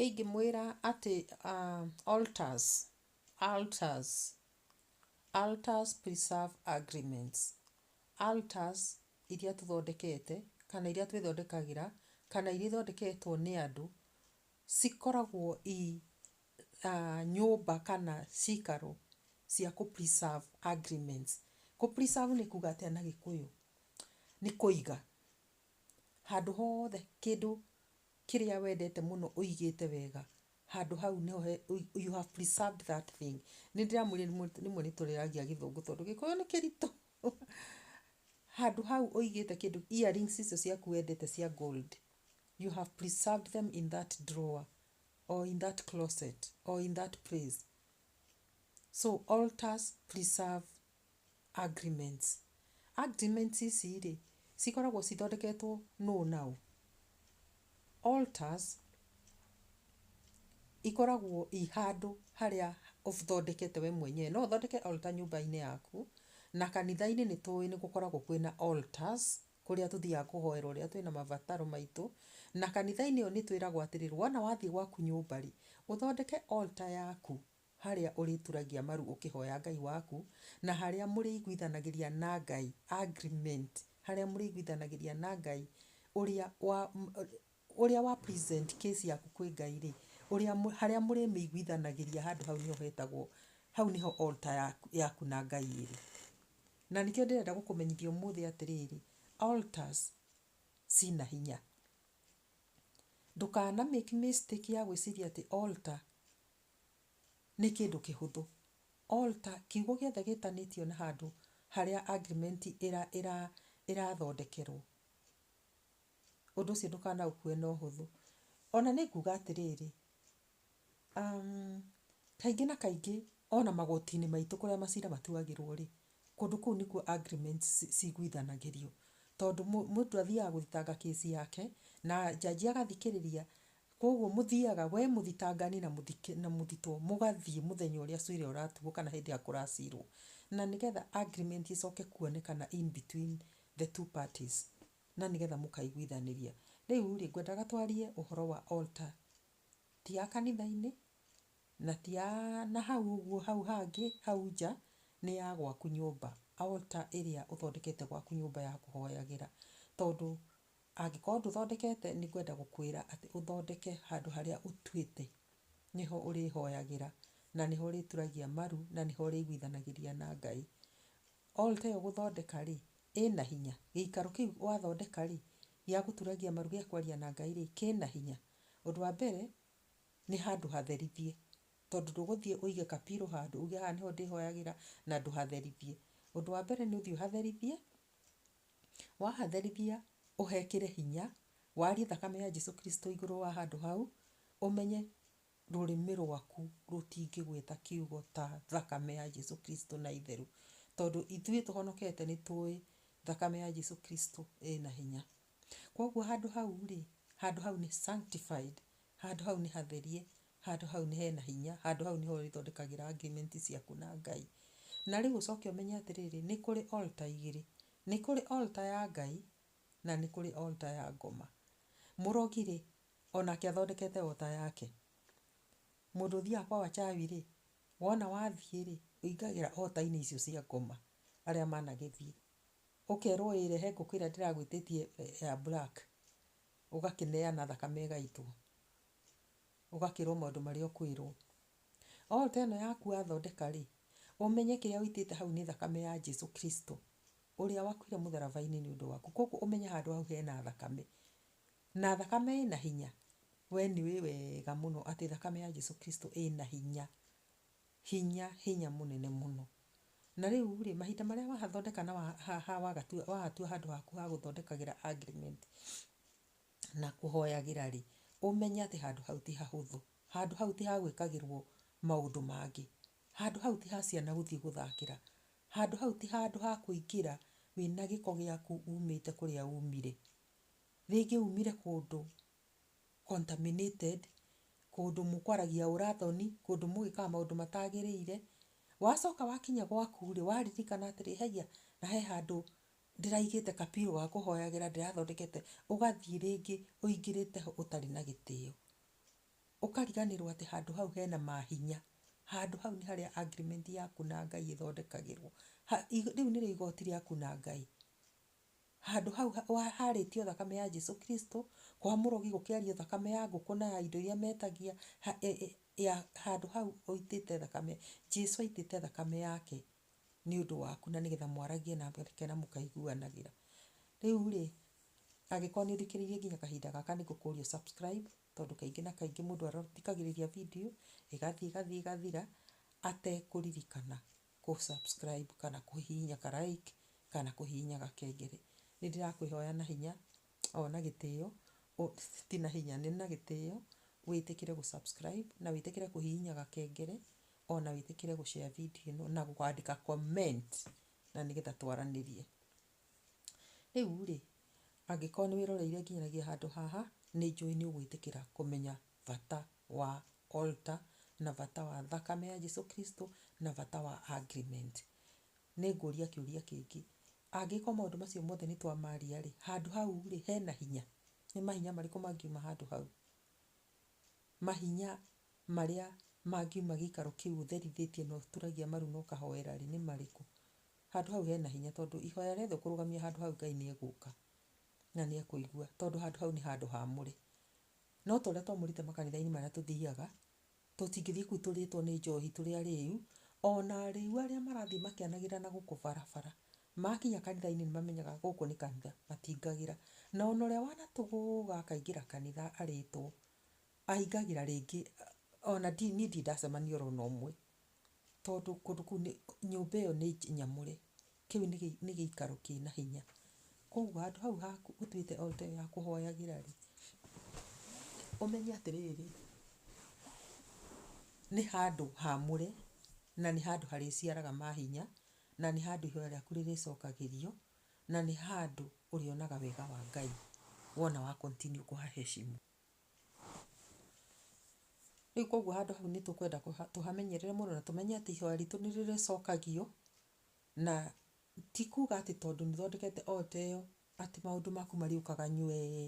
Ingĩmwĩra atĩ Alters, Alters, Alters Preserve Agreements, Alters iria tũthondekete kana iria twĩthondekagĩra kana iria ithondeketwo nĩ andũ cikoragwo i nyũmba kana ciikaro cia kũ preserve agreements. Kũ preserve nĩ kuuga atĩa na gĩkũyũ? Nĩ kũiga. Handũ hothe kĩndũ kĩrĩa wendete mũno ũigĩte wega, handũ hau nĩho he, you have preserved that thing. Nĩ ndĩramwĩrire rĩmwe nĩ tũrĩagia gĩthũngũ tondũ gĩkũyũ nĩ kĩritũ. Handũ hau ũigĩte kĩndũ, earrings icio ciaku wendete cia gold, you have preserved them in that drawer. or in that closet or in that place. So altars preserve agreements. Agreements ici rĩ cikoragwo cithondeketwo nũ na ũ? Altars ikoragwo i handũ harĩa ũthondekete we mwenyewe. No ũthondeke altar nyũmba-inĩ yaku na kanitha-inĩ nĩ tũĩ nĩ gũkoragwo kwĩna altars kũrĩa tũthiaga kũhoera ũrĩa twĩna mabataro maitũ, na kanitha-inĩ ĩyo nĩ twĩragwo atĩrĩ, wona wathiĩ gwaku nyũmba-rĩ, ũthondeke altar yaku harĩa ũrĩturagia maru ũkĩhoya Ngai waku, na harĩa mũrĩiguithanagĩria na Ngai, agreement, harĩa mũrĩiguithanagĩria na Ngai ũrĩa wa, Ũrĩa wa present case yaku kwĩ Ngai-rĩ, ũrĩa harĩa mũrĩmĩiguithanagĩria handũ hau nĩho hetagwo, hau nĩho altar yaku yaku na Ngai ĩrĩ. Na nĩkĩo ndĩrenda gũkũmenyithia ũmũthĩ atĩrĩrĩ, altars cina hinya. Ndũkana make mistake ya gwĩciria atĩ altar nĩ kĩndũ kĩhũthũ. Altar, kiugo gĩothe gĩtanĩtio na handũ harĩa agreement ĩra ĩra ĩrathondekerwo, ũndũ ũcio ndũkanaũkue na ũhũthũ. Ona nĩ nguga atĩrĩrĩ, kaingĩ na kaingĩ ona magoti-inĩ maitũ kũrĩa macira matuagĩrwo rĩ, kũndũ kũu nĩkuo agreements ciguithanagĩrio. Tondũ mũndũ athiaga gũthitanga case yake na judge agathikĩrĩria. Kwoguo mũthiaga we mũthitangani na mũthitwo mũgathiĩ mũthenya ũrĩa cira ũratuo kana hĩndĩ ĩrĩa kũracirwo. Na nĩgetha agreement ĩcoke kuonekana in between the two parties. na nĩgetha mũkaiguithanĩria. Rĩu rĩ, ngwendaga twarie ũhoro wa altar. Ti ya kanitha-inĩ, na ti ya na hau ũguo hau hangĩ hau nja, nĩ ya gwaku nyũmba. Altar ĩrĩa ũthondekete gwaku nyũmba ya kũhoyagĩra. Tondũ angĩkorwo ndũthondekete nĩ ngwenda gũkwĩra atĩ ũthondeke handũ harĩa ũtuĩte nĩho ũrĩhoyagĩra, na nĩho ũrĩturagia maru, na nĩho ũrĩiguithanagĩria na Ngai. Altar ĩyo gũthondeka rĩ, ĩ na hinya? Gĩikaro kĩu wathondeka-rĩ, gĩa gũturagia maru gĩa kwaria na Ngai-rĩ, kĩ na hinya? Ũndũ wa mbere, nĩ handũ hatherithie, tondũ ndũgũthiĩ ũige kapiro handũ uge haha nĩho ndĩhoyagĩra na ndũhatherithie. Ũndũ wa mbere nĩ ũthiĩ ũhatherithie, wahatherithia ũhekĩre hinya, warie thakame ya Jesu Kristo igũrũ wa handũ hau, ũmenye Rũrĩmĩ rwaku rũtingĩgweta kiugo ta thakame ya Jesu Kristo na itheru. Tondũ ithuĩ tũhonokete nĩ tũĩ thakame ya Jesu Kristo ĩna hinya. Kwoguo handũ hau rĩ, handũ hau nĩ sanctified, handũ hau nĩ hatherie, handũ hau nĩ hena hinya, handũ hau nĩho ũrĩthondekagĩra agreement ciaku na Ngai. Na rĩu ũcoke ũmenye atĩrĩrĩ, nĩ kũrĩ altar igĩrĩ. Nĩ kũrĩ altar ya Ngai, na nĩ kũrĩ altar ya ngoma. Mũrogi rĩ, o nake athondekete o ta yake. Mũndũ ũthiaga kwa wachawi rĩ, wona wathiĩ rĩ, ũingagĩra altar-inĩ icio cia ngoma arĩa managĩthiĩ. Ũkerwo ĩĩ rehe ngũkũ ĩrĩa ndĩragwĩtĩtie ya black, ũgakĩneana thakame ĩgaitwo. Ũgakĩrwo maũndũ marĩa ũkwĩrwo. Altar ĩno yaku wathondeka rĩ, ũmenye kĩrĩa ũitĩte hau nĩ thakame ya Jesu Kristo, ũrĩa wakuire mũtharaba-inĩ nĩ ũndũ waku. Kũguo ũmenye handũ hau hena thakame. Na thakame ĩna hinya? We nĩũĩ wega mũno atĩ thakame ya Jesu Kristo ĩna hinya, hinya, hinya mũnene mũno. Na rĩurĩ, mahinda marĩa wathondeka na wahatua handũ haku ha gũthondekagĩra agreement na kũhoyagĩra rĩ, ũmenye atĩ handũ hau ti hahũthũ. Handũ hau ti ha gwĩkagĩrwo maũndũ mangĩ. Handũ hau ti ha ciana gũthiĩ gũthakĩra. Handũ hau ti handũ ha kũingĩra wĩna gĩko gĩaku umĩte kũrĩa umire. Rĩngĩ umire kũndũ contaminated, kũndũ mũkwaragia ũra thoni, kũndũ mũgĩkaga maũndũ matagĩrĩire, wacoka wakinya gwaku rĩ, waririkana atĩrĩ, haiya, na he handũ ndĩraigĩte ka pillow ga kũhoyagĩra ndĩrathondekete, ũgathiĩ rĩngĩ ũingĩrĩte ho ũtarĩ na gĩtĩo. Ũkariganĩrwo atĩ handũ hau hena mahinya. Handũ hau nĩ harĩa agreement yaku na Ngai ĩthondekagĩrwo. Rĩu nĩrĩo igoti rĩaku na Ngai. Handũ hau haarĩtio thakame ya Jesu Kristo, kwa mũrogi gũkĩario thakame ya ngũkũ na ya indo iria metagia, handũ hau ũitĩte thakame, Jesu aitĩte thakame yake nĩ ũndũ waku na nĩgetha mwaragie nake na mũkaiguanagĩra. Rĩu rĩ, angĩkorwo nĩ ũthikĩrĩirie nginya kahinda gaka nĩ ngũkũria ũ subscribe tondũ kaingĩ na kaingĩ mũndũ athikagĩrĩria video ĩgathiĩ ĩgathiĩ ĩgathira atekũririkana. kũ subscribe kana kũhihinya ka like kana kũhihinya gakengele. Nĩ ndĩrakũĩhoya na hinya o na gĩtĩo, ti na hinya, nĩ na gĩtĩo wĩtĩkĩre gũ subscribe na wĩtĩkĩre kũhihinya gakengele o na wĩtĩkĩre gũ share video ĩno na kwandĩka comment na nĩ getha twaranĩrie. Rĩu rĩ, angĩkorwo nĩ wĩroreire nginyagĩa handũ haha, nĩ njũĩ nĩ ũgũĩtĩkĩra kũmenya bata wa altar, na bata wa thakame ya Jesu Kristo, na bata wa agreement. Nĩngũria kĩũria kĩngĩ, angĩkorwo maũndũ macio mothe nĩtwamaria rĩ, handũ hau rĩ, hena hinya? Nĩ mahinya marĩkũ mangiuma handũ hau? Mahinya marĩa mangiuma gĩikaro kĩu ũtherithĩtie na ũturagia maru na ũkahoera rĩ, nĩ marĩkũ? Handũ hau hena hinya tondũ ihoya rĩothe ũkũrũgamia handũ hau Ngai nĩegũka, na nĩekũigua tondũ handũ hau nĩ handũ hamũre. No ta ũrĩa twamũrĩte makanitha-inĩ marĩa tũthiaga, tũtingĩthiĩ kũu tũrĩtwo nĩ njohi tũrĩ arĩu, ona arĩu arĩa marathiĩ makĩanagĩrĩra na gũkũ barabara, makinya kanitha-inĩ nĩmamenyaga gũkũ nĩ kanitha, matingagĩra. Na ona ũrĩa wanatũgũga akaingĩra kanitha arĩtwo, ahingagĩra rĩngĩ, ona niĩ ndirĩ ndacemania oro na ũmwe. tondũ kũndũ kũu nĩ, nyũmba ĩyo nĩ nyamũre, kĩu nĩ gĩ, nĩ gĩikaro kĩna hinya, koguo handũ hau haku ũtuĩte o ta ĩyo ya kũhoyagĩra rĩ, ũmenye atĩrĩrĩ, nĩ handũ hamũre, na nĩ handũ harĩciaraga mahinya, na nĩ handũ ihoya rĩaku rĩrĩcokagĩrio, na nĩ handũ ũrĩonaga wega wa Ngai wona wa continue kũha heshimu. Rĩu koguo handũ hau nĩ tũkwenda tũhamenyerere mũno na tũmenye atĩ ihoya ritũ nĩ rĩrĩcokagio, na ti kuga atĩ tondũ nĩ ũthondekete altar ĩyo atĩ maũndũ maku marĩũkaga nywee.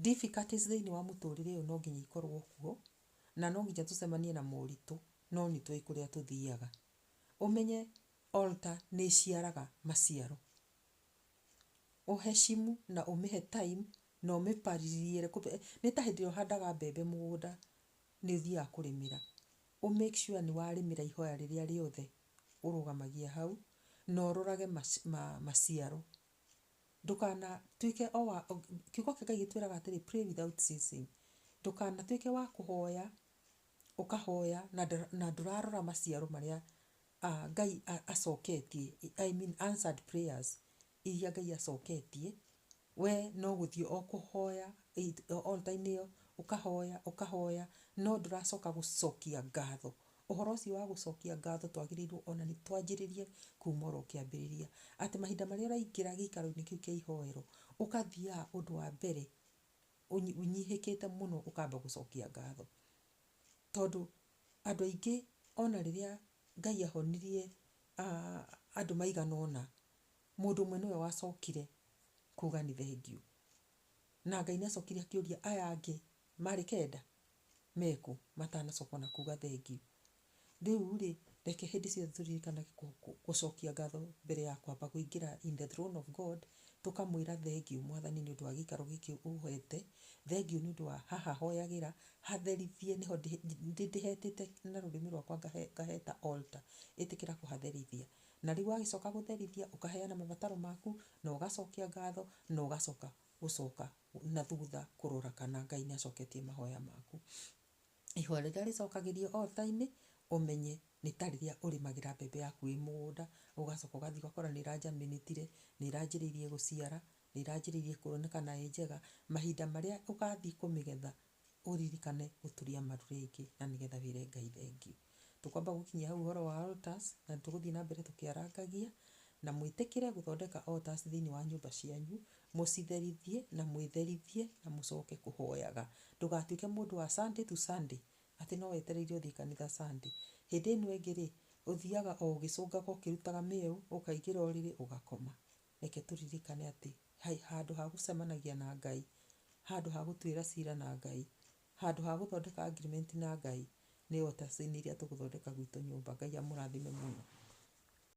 Difficulties thĩinĩ wa mũtũrĩre ũyũ no nginya ikorũo kuo, na no nginya tũcemanie na moritũ, no nĩ tũĩ kũrĩa tũthiaga. Ũmenye altar nĩ ĩciaraga maciaro. Ũheshimu na ũmĩhe time na ũmĩpalilie, nĩ ta hĩndĩ ĩrĩa ũhandaga mbembe mũgũnda nĩ ũthiaga kũrĩmĩra, ũ make sure nĩ warĩmĩra ihoya rĩrĩa rĩothe ũrũgamagia hau, na ũrorage maciaro. Ndũkanatuĩke o wa, kiugo kĩa Ngai gĩtwĩraga atĩrĩ pray without ceasing. Ndũkanatuĩke wa kũhoya, ũkahoya na ndũrarora maciaro marĩa Ngai acoketie, I mean answered prayers. iria Ngai acoketie, we no gũthiĩ o kũhoya altar inĩ ĩyo, ũkahoya ũkahoya no ndũracoka gũcokia ngatho. Ũhoro ũcio wa gũcokia ngatho twagĩrĩirwo ona nĩ twanjĩrĩrie kuma oro kĩambĩrĩria. Atĩ mahinda marĩa ũraingĩra gĩikaro-inĩ kĩu kĩa ihoero, ũgathiaga ũndũ wa mbere ũnyihĩkĩte mũno ũkamba gũcokia ngatho. Tondũ andũ aingĩ ona rĩrĩa Ngai ahonirie andũ maigana ũna, Mũndũ ũmwe nĩwe wacokire kuga nĩ thengiũ. Na Ngai nĩ acokire akĩũria aya angĩ marĩ kenda mekũ matanacoka ona kuga thengiũ. Rĩu rĩ, reke hĩndĩ ciothe tũririkanage gũcokia ngatho mbere ya kwamba kũingĩra in the throne of God, tũkamwĩra thengiũ Mwathani nĩ ũndũ wa gĩikaro gĩkĩ ũhete, thengiũ nĩ ũndũ wa haha hoyagĩra, hatherithie nĩho ndĩhetĩte na rũrĩmĩ rwakwa ngaheta altar. Ĩtĩkĩra kũhatherithia. Na rĩu wagĩcoka gũtherithia, ũkaheana mabataro maku, na ũgacokia ngatho, na ũgacoka gũcoka na thutha kũrora kana Ngai nĩ acoketie mahoya maku. Ihoya rĩrĩa rĩcokagĩrio altar-inĩ, ũmenye nĩ ta rĩrĩa ũrĩmagĩra mbembe yaku wĩ mũgũnda, ũgacoka ũgathiĩ ũgakora nĩ ĩranjaminĩtire, nĩ ĩranjĩrĩirie gũciara, nĩ ĩranjĩrĩirie kuonekana ĩ njega, mahinda marĩa ũgathiĩ kũmĩgetha, ũririkane gũturia maru rĩngĩ na nĩgetha wĩre Ngai thengiũ. Tũkwamba gũkinyia hau ũhoro wa altars na nĩ tũgũthiĩ na mbere tũkĩarangagia, na mwĩtĩkĩre gũthondeka altars thĩinĩ wa nyũmba cianyu, mũcitherithie na mwĩtherithie na mũcoke kũhoyaga. Ndũgatuĩke mũndũ wa Sunday to Sunday atĩ no wetereire ũthiĩ kanitha Sunday. Hĩndĩ ĩno ĩngĩ rĩ, ũthiaga o ũgĩcũngaga ũkĩrutaga mĩeũ, ũkaingĩra ũrĩrĩ ũgakoma. reke tũririkane atĩ handũ ha gũcemanagia na Ngai, handũ ha gũtuĩra cira na Ngai, handũ ha gũthondeka agreement na Ngai, nĩ altars-inĩ iria tũgũthondeka gwitũ nyũmba. Ngai amũrathime mũno.